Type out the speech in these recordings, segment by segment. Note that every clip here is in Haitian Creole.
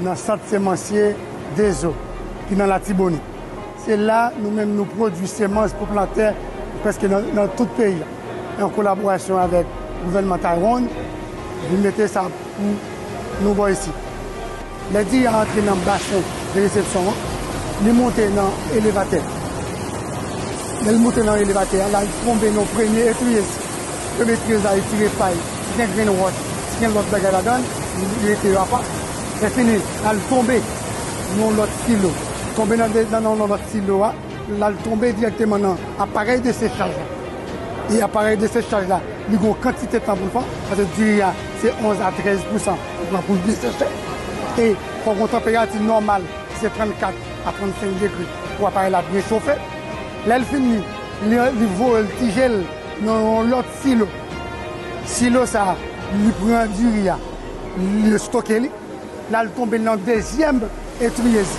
Nan sant semansye Dezo ki nan Latibonit. Se la nou menm nou pwodui semans pou plantè prèske nan tout peyi a. An kolaborasyon avèk gouvènman Taiwan, vin mete sa pou nou bò isit. Lè diri a antre nan basen de resepsyon an, li monte nan elevatè. Lè li monte nan elevatè a, l al tonbe nan premye etriyez. Premye etriyez la, li tire pay. Si gen grenn wòch, si gen lòt bagay ladan, li rete yo apa. Lèfini, l al tonbe nan yon lòt silo. Tonbe nan yon lòt silo a, l al tonbe dirèkteman nan aparèy desechaj la. E aparèy desechaj la, li gen yon kantite tan pou l pran, paske diri a, se 11 a 13 pousan li pran pou l byen seche. E fò gen yon tanperati nòmal ki se 34 a 35 degre pou aparèy la byen chofe. Lè l fini, li voye l, tije l nan yon lòt. Silo. Silo sa a, li pran diri a, li estoke li, l al tonbe nan dezyèm etriyez.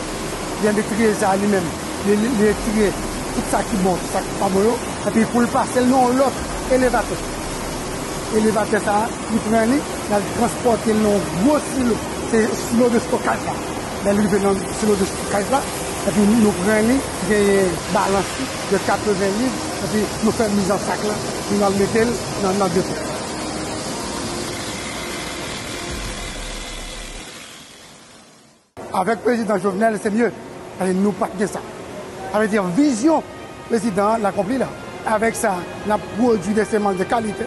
Dezyèm etriyez sa a li menm, li retire tout sa ki bon, tout sa ki pa bon yo. Epi pou l pase l nan yon lòt elevatè. Elevatè sa a, li pran li, l al transpòte l nan yon gwo silo. Se silo de stokaj la. Lè l rive nan silo de stokaj la, epi nou pran li, genyen balans li. de 80 liv epi nou fè miz an sak la pou nou al mete l nan nan depo. Avèk prezidan Jovenel se mye paske nou pat gen sa. Sa vle di vizyon prezidan an l akonpli la. Avèk sa n ap pwodui de semans de kalite.